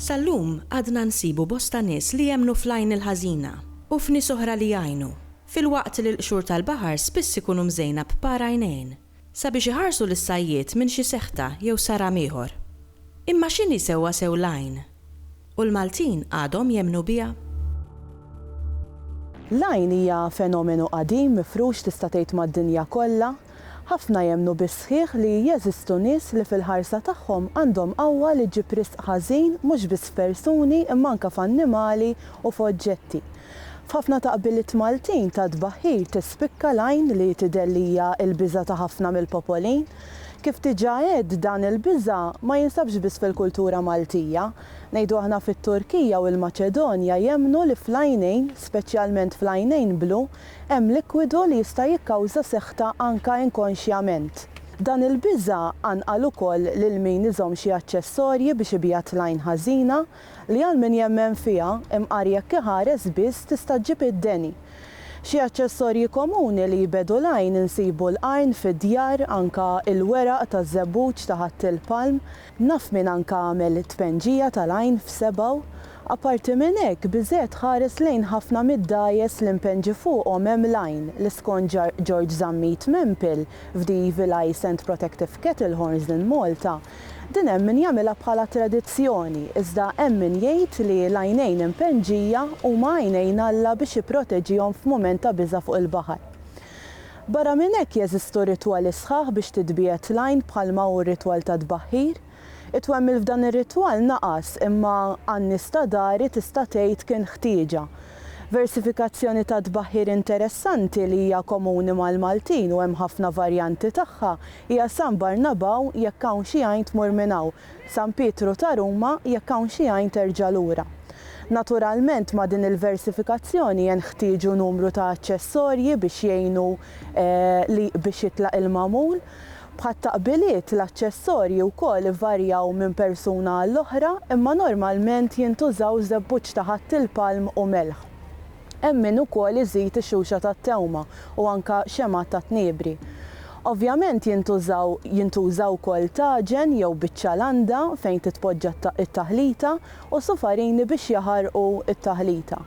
Sal-lum għadna nsibu bosta nies li jemmnu fl-għajn il-ħażina u f'nies oħra li jgħinu, filwaqt li l-qxur tal-baħar spiss ikunu mżejna b'par għajnejn. sabiex iħarsu lis-sajjied minn xi seħta jew saram ieħor. Imma x'inhi sewwasew l-għajn? U l-Maltin għadhom jemmnu biha? L-għajn hija fenomenu qadim mifrux tista' tgħid mad-dinja kollha. Ħafna jemmnu bis-sħiħ li jeżistu nies li fil-ħarsa tagħhom għandhom qawwa li ġġib riżq ħażin mhux biss f'persuni imma anke f'annimali u f'oġġetti. F'ħafna ta' qbiliet Maltin ta' tbaħħir tispikka l-għajn li tidher li hija l-biża' ta' ħafna mill-popoli. Kif diġà għedt, dan il-biża' ma jinsabx biss fil-kultura Maltija. Ngħidu aħna fit-Turkija u l-Maċedonja jemmnu li fl-għajnejn, speċjalment fl-għajnejn blu, hemm likwidu li jista' jikkawża seħta anke inkonxjament. Dan il-biża' qanqal ukoll lil min iżomm xi aċċessorji biex ibigħat l-għajn ħażina, Li għal min jemmen fiha, imqar jekk iħares biss, tista' ġġib id-deni. Xi aċċessorji komuni li jbegħdu l-għajn insibu l-qarn fid-djar, anka il-weraq taż-żebbuġ taħatt il-palm. Naf min anka għamel it-tpenġija tal-għajn f'sebgħu. Apparti minn hekk, biżżejjed tħares lejn ħafna mid-dgħajjes li mpenġi fuqhom hemm l-għajn li skont George Zammit Mempil f'Dii Villae Saint Protective Kettle Horns in Malta, Din hemm min jagħmilha bħala tradizzjoni, iżda hemm min jgħid li l-għajnejn impenġija huma għajnejn Alla biex jipproteġihom f'mument ta' biża' fuq il-baħar. Barra minn hekk jeżistu ritwali sħaħ biex titbiegħed l-għajn bħalma hu r-ritwal tat-tbaħħir. It-twemmil f'dan ir-ritwal naqas imma għan-nies ta' dari tista' tgħid kien ħtieġa. Versifikazzjoni tat-tbaħħir interessanti li hija komuni mal-Maltin u hemm ħafna varjanti tagħha Hija San Barnabau jekk hawn xi għajn tmur minn hawn, San Pietru ta' Ruma jekk hawn xi għajn terġa' lura. Naturalment ma' din il-versifikazzjoni jenħtieġu numru ta' aċċessorji biex jgħinu li biex jitlaq il-magħmul. Bħat-taqbiliet, l-aċċessorji wkoll ivarjaw minn persuna għall-oħra imma normalment jintużaw żebbuġ ta' ħatt il-palm u melħ. Hemm min ukoll iżid ix-xuxa tat-tewma u anke xemgħat tat-tniebri. Ovvjament jintużaw jintuża wkoll taġen jew biċċa landa fejn titpoġġa t-taħlita u sufarini biex jaħarqu t-taħlita.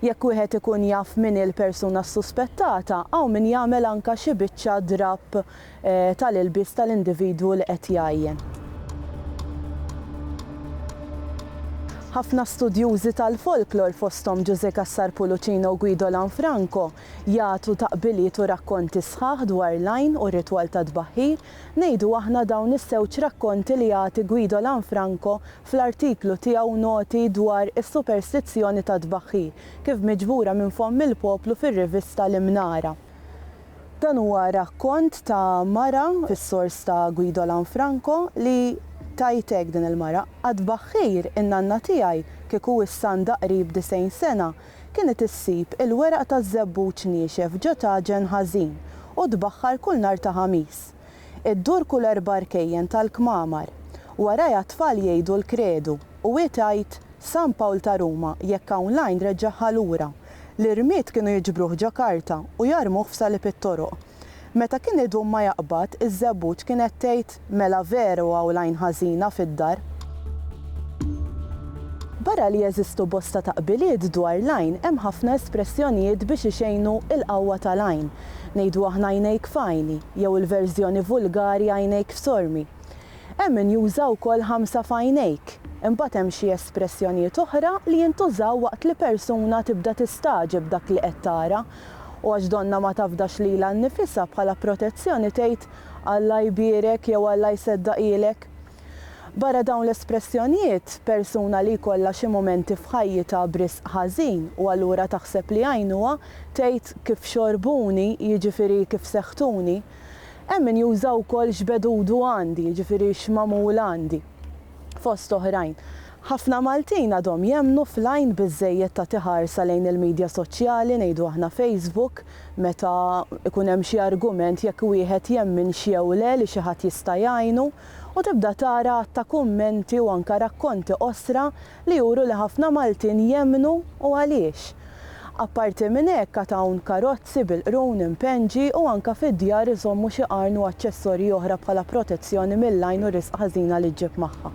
Jekk wieħed ikun jaf min hi l-persuna ssuspettata hawn min jagħmel anke xi biċċa drapp ta' l-ilbies ta' l-individwu li qed jgħajjen. Ħafna studjużi tal-folklor, fosthom Ġużè Cassar Pulucino u Guido Lanfranco, jagħtu taqbiliet u rakkonti sħaħ dwar l-għajn u r-ritwal tat-tbaħħir, ngħidu aħna dawn iż-żewġ rakkonti li jagħti Guido Lanfranco fl-artiklu tiegħu Noti dwar is-superstizzjoni tat-tbaħħir, kif miġbura minn fomm il-poplu fir-rivista L-Imnara. Dan huwa rakkont ta' mara fis-sors ta' Guido Lanfranco li tgħid hekk din il-mara, Qatt b'aħħir in-nanna tiegħi, kieku issa għandha qrib disgħin sena, kienet issib il-weraq taż-żebbuġ niexef ġo tagħġen ħażin u tbaħħar kull nhar ta' Ħamis. Iddur kull erba' rkejjen tal-kmamar. Warajha t-tfal jgħidu l-kredu u hi tgħid San Pawl ta' Ruma jekk hawn l-għajn reġġagħha lura. L-irmied kienu jiġbruh ġo karta u jarmuh f'salib it-toroq. Meta kien idum ma jaqbad, iż-żebbuġ kienet tgħid mela veru hawn l-għajn ħażina fid-dar. Barra li jeżistu bosta taqbiliet dwar l-għajn hemm ħafna espressjonijiet biex ixejnu l-qawwa tal-għajn. Ngħidu aħna għajnejk f'għajni jew il-verżjoni vulgari għajnejk f'sormi. Hemm min juża wkoll ħamsa f'għajnejk. Imbagħad hemm xi espressjonijiet oħra li jintużaw waqt li persuna tibda tistagħġeb dak li qed tara u għax donnha ma tafdax lilha nnifisha bħala protezzjoni tgħid Alla jbierek jew Alla jseddaqhielek. Barra dawn l-espressjonijiet, persuna li jkollha xi mumenti f'ħajjitha b'risq ħażin u allura taħseb li jgħinuha, tgħid kif xorbuni, jiġifieri kif seħħtuni. Hemm min juża wkoll x'bedudu għandi, jiġifieri x'magħmul għandi. Fost oħrajn. Ħafna Maltin għadhom jemmnu fl-għajn biżżejjed tagħti ħarsa lejn il-midja soċjali, ngħidu aħna Facebook, meta jkun hemm xi argument jekk wieħed jemminx jew le li xi ħadd jista' jgħinu. u tibda tara għadd ta' kummenti u anke rakkonti qosra li juru li ħafna Maltin jemmnu u għaliex. Apparti minn hekk għad hawn karozzi bil-qrun impenġi u anke fid-djar iżommu xi qarn u aċċessorji oħra bħala protezzjoni mill-għajn u r-riżqa ħażina li ġġib magħha.